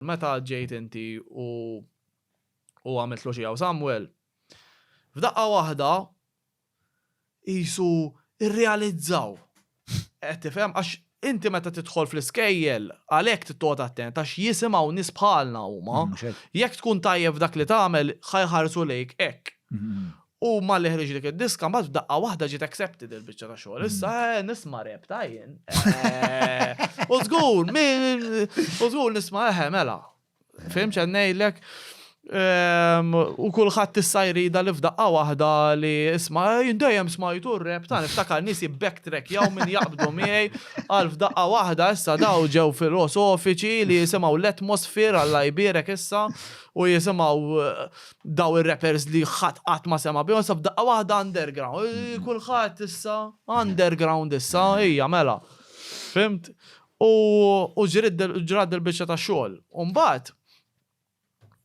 Meta ġejt inti u u għamiltlu xi hawn Samwel, f'daqqa waħda qisu rrealizzaw. Qed tifhem? Għax inti meta tidħol fl-iskejjel, għalhekk trid toqgħod attent għax jisimgħu nies bħalna huma. Jekk tkun tajjeb f'dak li tagħmel, ħa jħarsu lejk hekk. U malli ħriġ dik id-diska, mbagħad f'daqqa waħda ġiet accepted il-biċċa ta' xogħol. Issa eh, nisma' rep ta' jien. Eh, U żgur, min, u żgur nisma' eħe mela. Fim ċennejlek. Ehm, U kulħadd issa jrida li f'daqqa waħda li isma' eh, jien dejjem smajtu r-rep ta' niftakar nies jibbacktrack jew min jaqbdu miegħi għal f'daqqa waħda issa daw ġew filosofiċi li jisimgħu l-atmosphere għalla jbierek issa u jisimgħu eh, daw ir-rappers li ħadd qatt ma sema' bihom sa f'daqqa waħda underground. Mm. Kulħadd issa underground issa hija mela. Fimt? U ġrad il-biċċa ta' xogħol. Umbagħad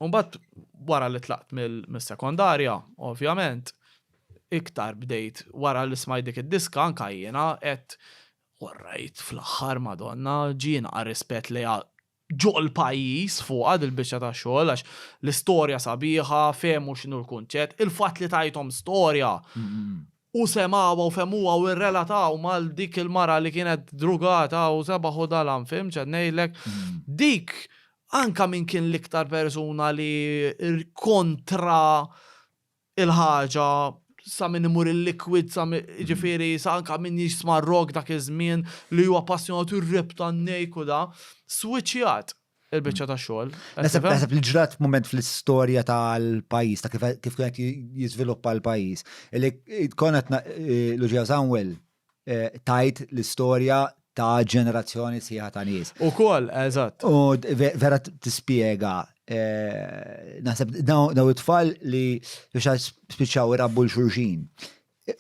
Umbagħad wara li tlaqt mill-sekondarja, ovvjament, iktar bdejt wara li smaj dik id-diska anka jiena qed orrajt fl-aħħar Madonna ġiena rispett li ġol-pajjiż fuqha dil-biċċa ta' xogħol għax l-istorja sabiħa, fehmu x'inhu l-kunċett, il-fatt li tgħidhom storja u semgħuha u fehmuha u rrelataw mal dik il-mara li kienet drugata u sebaħ u dalam fhimt x'qed ngħidlek? Dik anke min kien l-iktar persuna li kontra il-ħaġa, sa min imur il-liquid, sa min, jiġifieri sa anke min jisma' r-rock dak iż-żmien li huwa appassjonat ir-rap tan-nejk u da, swiċċjat il-biċċa tax-xogħol. Naħseb naħseb li ġrat mument fl-istorja tal-pajjiż ta' kif kif kien qed jiżviluppa l-pajjiż. Li konna qed na- eh, Luġija Samwel tajt l-istorja ta' ġenerazzjoni sħiħa ta' nies. U kol, eżatt. U vera tispiega Eh, naħseb daw it-tfal li biex spiċċaw irabbu l-xurxin.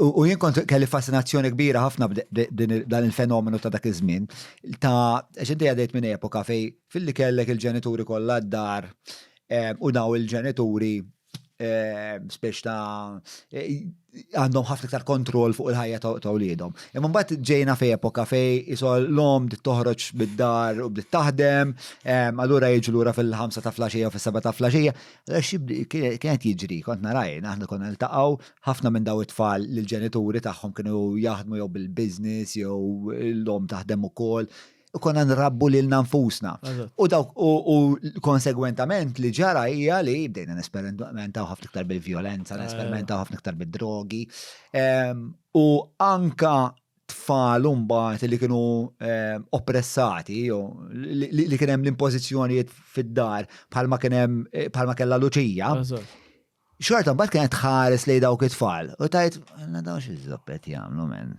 U jien kont kelli fascinazzjoni kbira ħafna dan il-fenomenu ta' dak iż-żmien ta' xinti għadejt minn epoka fej fil-li kellek il-ġenituri kollha d-dar eh, u daw il-ġenituri spiex ta' għandhom ħafna iktar kontroll fuq il-ħajja ta' wliedhom. Imma mbagħad ġejna fej epoka fej isol l-om bdiet toħroġ bid-dar u bdiet taħdem, allura jiġu lura fil-ħamsa ta' flaxija u fis-seba ta' flaxija. Kienet jiġri, kont naraj, aħna konna niltaqgħu ħafna minn daw it-tfal li l-ġenituri tagħhom kienu jaħdmu jew bil-business jew l-om taħdem ukoll. konna nrabbu lilna nfusna. U dawk u konsegwentament li ġara hija li bdejna nesperimentaw ħafna iktar bil-vjolenza, nesperimentaw ħafna iktar bid-drogi. Ehm, u anka tfal mbagħad li kienu ehm, oppressati li kien hemm l-impożizzjonijiet fid-dar bħalma kien hemm eh, bħalma kellha Luċija. Xorta mbagħad kienet tħares lejn dawk it-tfal u tgħid, Alla dawn xi żopp qed jagħmlu men.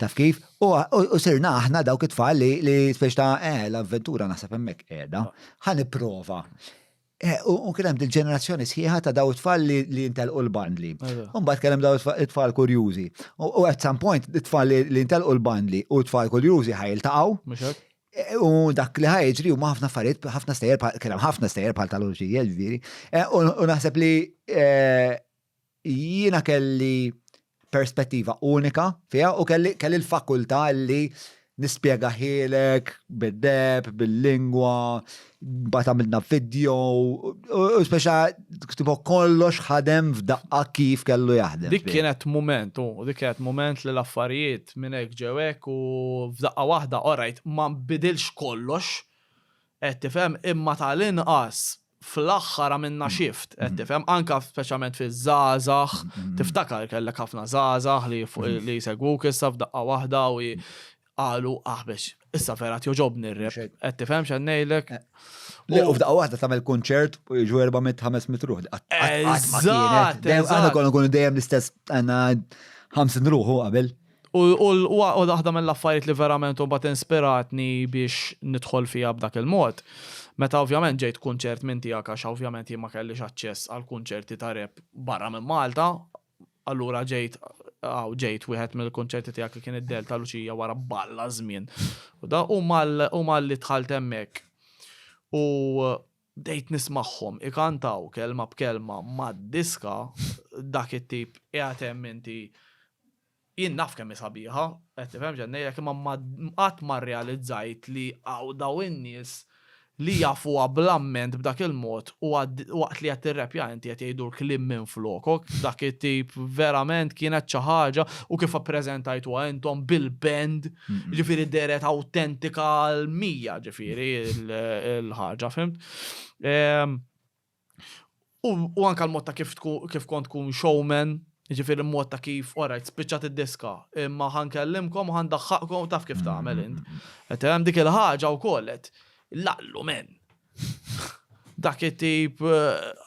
Taf kif? U sirna aħna dawk it-tfal li speċi ta' eh l-avventura naħseb hemmhekk qiegħda, ħa nipprova. U kien hemm dil-ġenerazzjoni sħiħa ta' dawn it-tfal li ntelqu l-bandli. U mbagħad kien hemm dawn it-tfal kurjużi. U at some point it-tfal li ntelqu l-bandli u t-tfal kurjużi ħa jiltaqgħu. U dak li ħajġri huma ħafna affarijiet, ħafna stejjer bħal kien hemm ħafna stejjer bħal tal-urġija ġifieri. Eh, u naħseb li eh, jiena kelli perspettiva unika fiha u kelli kelli l-fakultà li nispjega ħilek bid-deb, bil-lingwa, bat għamilna video, u speċa ktibu kollox ħadem f'daqqa kif kellu jaħdem. Dik kienet moment, u dik kienet moment li l-affarijiet minn hekk ġewek u f'daqqa waħda, orajt, ma bidilx kollox, qed tifhem, imma tal-inqas fl-aħħar għamilna shift, qed tifhem, anka speċjalment fiż-żgħażagħ, tiftakar kellek ħafna żgħażagħ li jsegwuk issa f'daqqa waħda u qalu aħbex. Issa vera tjoġobni r-rep. Qed tifhem x'għad ngħidlek. Le, u f'daqqa waħda tagħmel kunċert u jiġu 400-500 ruħ. Eżatt! Għandna konna kunu dejjem l-istess għandna 50 ruħu qabel. U waħda mill-affarijiet li verament u bat inspiratni biex nidħol fija b'dak il-mod. Meta ovvjament ġejt kunċert minn tiegħek għax ovvjament jien ma kellix aċċess għal kunċerti ta' rep barra minn Malta, Allura ġejt, għaw ġejt wieħed mill-kunċerti tiegħek li kien id-del ta' Luċija wara balla żmien. U da u mal li tħalt hemmhekk. U bdejt nismagħhom ikantaw kelma b'kelma mad-diska dak it-tip qiegħed hemm inti Jien naf kemm hi sabiħa, qed tifhem x'qed ngħidlek, imma ma qatt ma rrealizzajt li hawn dawn in-nies li jafuha bl-amment b'dak il-mod u waqt li qed tirrepja inti qed jgħidulk kliem minflokok b'dak it-tip verament kienet xi ħaġa u kif ippreżentajtuha intom bil-band ġifieri dehret awtentika għall-mija ġifieri l-ħaġa fhimt. U u anka l-mod ta' kif tkun kif kont tkun showman, jiġifieri l-mod ta' kif orajt spiċċat id-diska, imma ħa nkellimkom u ħa ndaħħaqkom taf kif tagħmel int. Qed tifhem? Dik il-ħaġa wkoll qed l-allu men! Dak it-tip.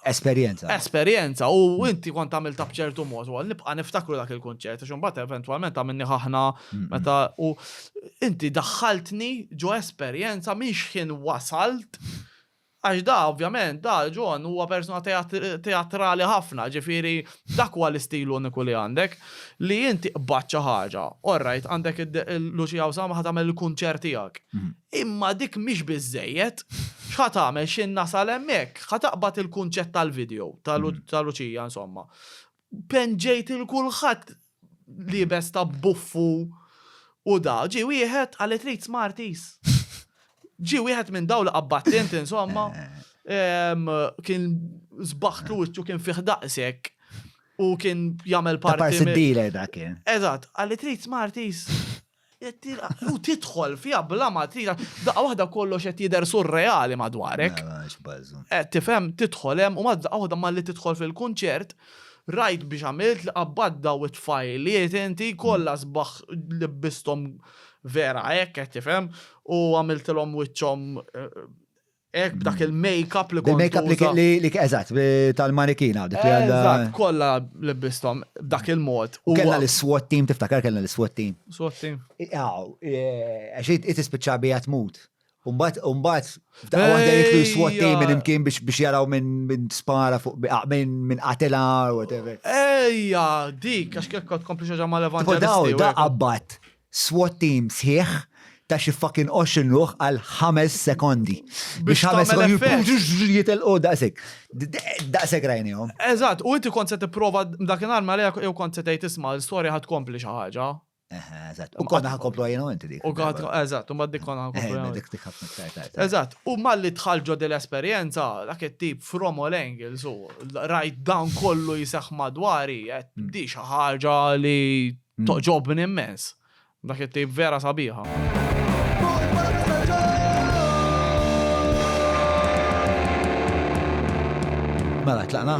Esperjenza. Esperjenza u inti kont għamiltha b'ċertu mod ukoll. Nibqa' niftakru dak il-kunċert għax imbagħad eventwalment għamilni ħaħna meta u inti daħħaltni ġo esperjenza minn xħin wasalt Għax da, ovvjament, da, John, huwa persuna teatrali ħafna, ġifieri dak huwa l-istil uniku li għandek, li inti qbadt xi ħaġa. All right, għandek Lucia Osama ħa tagħmel il-kunċert tiegħek. Imma dik mhix biżżejjed. X'ħa tagħmel x'in nasal hemmhekk? Ħa taqbad il-kunċett tal-video ta' Lucia, insomma. Penġejt il-kulħadd liebes ta' buffu u da. Ġie wieħed għal li trid Smarties. Ġie wieħed minn dawn li qabbadt int insomma. Kien żbaħtlu wiċċu kien fih daqshekk u kien jagħmel parti. Parsi dealer dak kien. Eżatt, għal li trid Smarties. U tidħol fija bla ma tira, daqqa waħda kollox qed jidher surreali madwarek. Qed tifhem tidħol hemm u ma daqqa waħda malli tidħol fil-kunċert, rajt biex għamilt li qabbad daw it-tfajliet inti kollha mm. sbaħ libbistom vera hekk qed tifhem u għamiltilhom wiċċhom eh, Ek b'dak mm. il-make-up li kont. Il-make-up li kien li eżatt tal-marikina dik li għandha. Eżatt, kollha lebbistom b'dak il-mod. U kellha l-SWAT team tiftakar kellha l-SWAT team. SWAT team. Aw, e, għax it ispiċċa bija tmut. Umbat, umbat, f'daqqa waħda jitlu jiswat team minn imkien biex jaraw minn spara fuq minn minn qatila or whatever. Ejja, dik, għax kif kont kompli xaġa ma' levant. Daw, da' abbat. SWAT team sħiħ ta' xi fucking għoxrin ruħ għal ħames sekondi. Biex ħames sekondi jippuġġu jitilqu daqshekk. Daqshekk rajnihom. Eżatt, u inti kont se tipprova dakinhar ma lejha jew kont se tgħid isma' l-istorja ħadd tkompli xi ħaġa. Eżatt. U konna ħakomplu għajna inti dik. U għad, eżatt, u maddik konna ħakomplu għajna. Dik dik ħafna iktar tard. Eżatt, u malli tħall ġod l-esperjenza, dak it-tip from all angles, u rajt dan kollu jisax madwari, qed di xi ħaġa li Mm. Toġobni immens. Dak it-tejb vera sabiħa. Mela, tlaqna.